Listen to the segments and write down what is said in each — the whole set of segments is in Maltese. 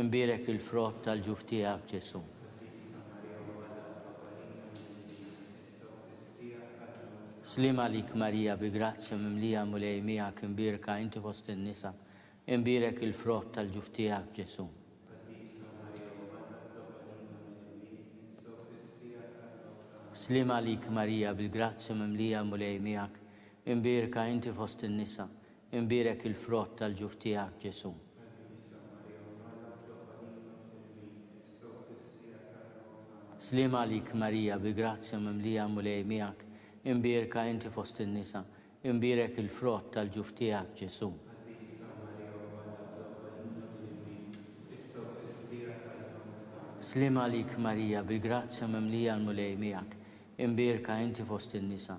Imbierek il-frott tal-ġuf tiegħek, Ġesù. Sliem għalik Marija, bi grazzja mimlija Mulej miegħek, imbierka inti fost in-nisa, imbierek il-frott tal-ġuf tiegħek, Ġesù. Sliem għalik Marija, bil-grazzja mimlija Mulej miegħek, imbierka inti fost in-nisa, Imbierek il-frott tal-ġuf tiegħek, Ġesù. Sliem għalik, Marija, bi grazzja mimlija l-Mulej miegħek, imbierka inti fost in-nisa, imbierek il-frott tal-ġuf tiegħek, Ġesù. Sliem għalik, Marija, bi grazzja mimlija l-Mulej miegħek, imbierka inti fost in-nisa,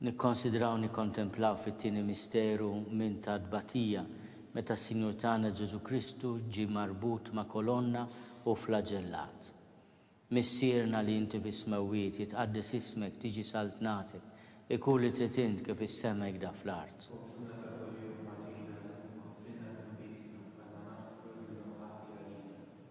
Nikkonsidraw u nikkontemplaw fit-tieni misteru minn ta' tbatija, meta s-Sinjur tagħna Ġesù Kristu ġie marbut ma' kolonna u flaġellat. Missierna li inti fis-smewwiet, jitqaddes ismek, tiġi saltnatek, ikun li trid int kif is-sema hekda fl-art. Khubżna ta' kuljum agħtina l-lum agħfrilna dnubietna bħalma naghfru lil min hu ħati għalina.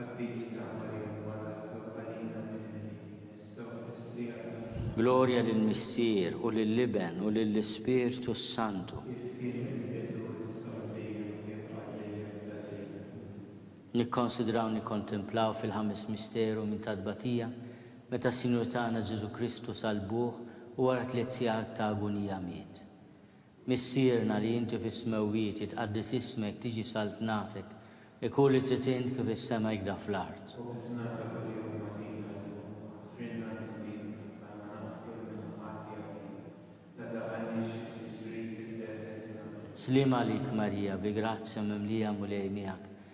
Għaddief sar Marjam wara li Klott għalina kien hemm kien jinnissa u tnissih għalina. Glorja lill-Missier, u lill-Iben, u lill-Ispirtu s-Santu. Kif kien mill-bidu, issa u dejjem, u jibqa' għal dejjem ta' dejjem. Amen. Nikkonsidraw u nikkontemplaw fil-Ħames Misteru minn tat-Tbatija, meta s-Sinjur tagħna Ġesù Kristu sal-buh u wara tliet sigħat ta' agunija miet. Missierna li inti fis-smewwiet jitqaddes ismek tiġi saltnatek ikun li trid int kif is-sema jkda fl-art. Oqisna ta' kuljum agħtina llum, offrilna t-tbib għandna naħfru l-minħuqat tiegħi, la daħalniex fit-tiġrib iżżed isna. Sliem għalik Marija bi grazzja mimlija Mulej miegħek,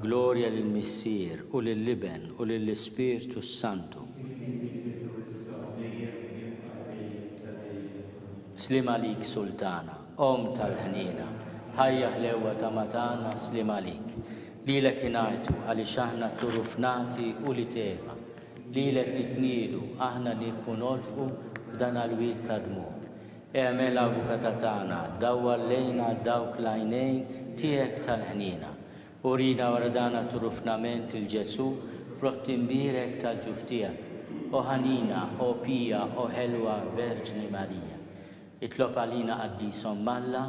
Glorja lill-Missier, u lill-Iben, u lill-Ispirtu s-Santu. Sliem għalik, Sultana, Omm tal-ħniena, ħajja ħlewwa ta' matana, sliem għalik. Lilek ingħajtu għaliex aħna tturufnati u li teva. Lilek nitniedu aħna li nkunolfqu f'dan għal-wied ta' dmugħ. Eagħmel avukata tagħna, dawwal lejna dawk l-għajnejn tiegħek tal-ħniena. Urina wara dan għat-turufnament lil Ġesù fl-għodd imbierek tal-ġuf tiegħek. O ħanina, o pija, o ħelwa Verġni Marija. Itlob għalina Qaddisa Omm Alla.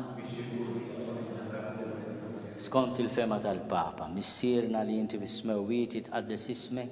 Skont il-fehma tal-Papa, Missierna li inti fis-Smewwiet jitqaddes ismek,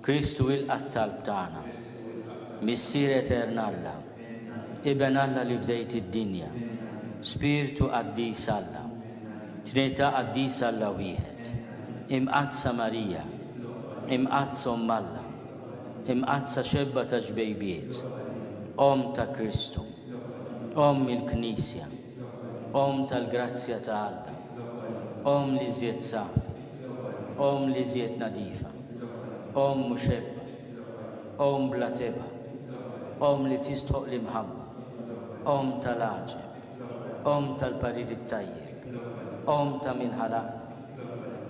Kristu ilqa' t-talb tagħna. Missier Etern Alla, Iben Alla li fdejt id-dinja, Spirtu Qaddis Alla, Trinità Qaddisa Alla Wieħed, Imqaddsa Marija, Imqaddsa Omm Alla, Imqaddsa Xebba ta' Xbejbiet, Omm ta' Kristu, Omm il-Knisja, Omm tal-grazzja ta' Alla. Omm l-iżjed safi. Omm l-iżjed nadifa. Omm muxebba. Omm bla tebgħa. Omm li tistħoq l-imħabba. Omm tal-għaġeb. Omm tal-parir it-tajjeb. Omm ta' min ħalaqna.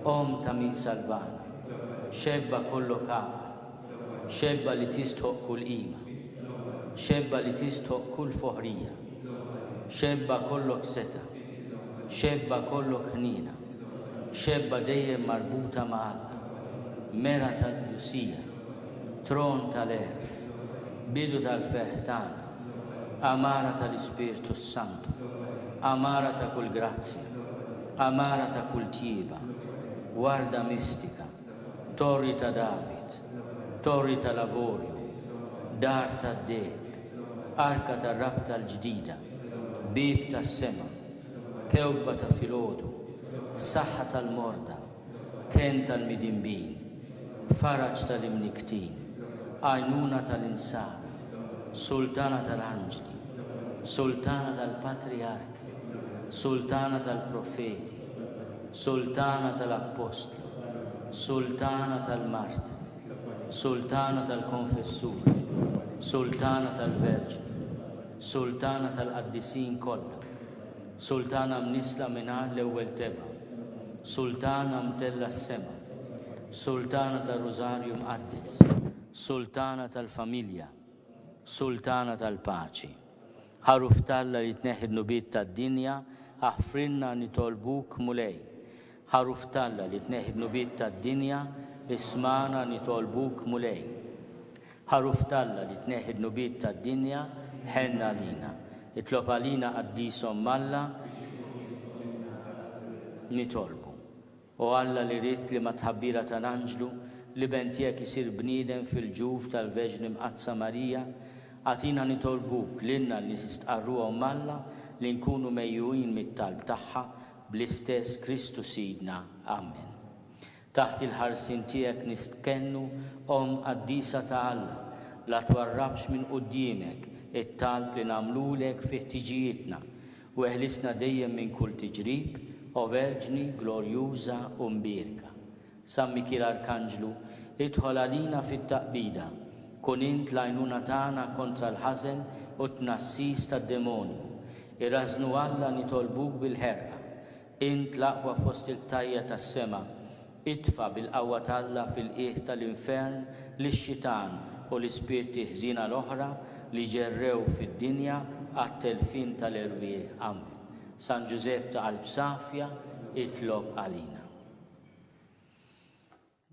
Omm ta' min salvana. Xebba kollok għaqal. Xebba li tistħoqq kull qima. Xebba li tistħoqq kull foħrija. Xebba kollok setgħa. Xebba kollok ħniena. Xebba dejjem marbuta ma' Alla. Mera tal-qdusija. Tron tal-għerf. Bidu tal-ferħ tagħna. Għamara tal-Ispirtu s-Santu. Għamara ta' kull grazzja. Għamara ta' kull tjieba. Warda mistika. Torri ta' David, Torri tal-Avorju, Dar tad-Deheb, Arka tar-Rabta l-Ġdida, Bieb tas-Sema, Kewkba ta' filgħodu, Saħħa tal-morda, Kenn tal-midinbin, Faraġ tal-imnikktin, Għajnuna tal-insara, Sultana tal-anġli, Sultana tal-patrijarki, Sultana tal-profeti, Sultana tal-appostli. Sultana tal-Mard, Sultana tal-Konfessur, Sultana tal-Verġni, Sultana tal-Qaddisin kollha, Sultana mnissla mingħajr l-ewwel tebgħa, Sultana mtellgħa s-sema, Sultana tar-Rużarju Mqaddes, Sultana tal-Familja, Sultana tal-Paċi. Ħaruf t'Alla li tneħħi d-dnubiet tad-dinja, aħfrilna nitolbuk, Mulej. Għaruf t'Alla li tneħħi d-dnubiet tad-dinja, ismagħna nitolbuk, Mulej. Għaruf t'Alla li tneħħi d-dnubiet tad-dinja, ħenn għalina. Itlob għalina Qaddisa Omm Alla, nitolbu. O Alla li ridt li mat-tħabbira tal-anġlu, l-Iben tiegħek isir bniedem fil-ġuf tal-Veġni Mqaddsa Marija, agħtina nitolbuk, lilna li nistqarruha Omm Alla, li nkunu mejjugħin mit-talb tagħha, bl-istess Kristu Sidna. Amen. Taħt il-ħarsien tiegħek nistkennu, Omm qaddisa ta' Alla, la twarrabx minn quddiemek it-talb li nagħmlulek fi ħtiġijietna, u eħlisna dejjem minn kull tiġrib, O Verġni glorjuża u mbierka. San Mikiel Arkanġlu, idħol għalina fit-taqbida, kun int l-għajnuna tagħna kontra l-ħażen u t-tnassis tad-demonju. Irażżnu Alla nitolbuk bil-ħerqa. Int l-aqwa fost il-btajja tas-sema, itfa' bil-qawwa t'Alla fil-qiegħ tal-infern lix-xitan u l-ispirti ħżiena l-oħra li ġerrew fid-dinja għat-telfien tal-erwieħ. Amen. San Ġużepp ta' Qalb Safja, itlob għalina.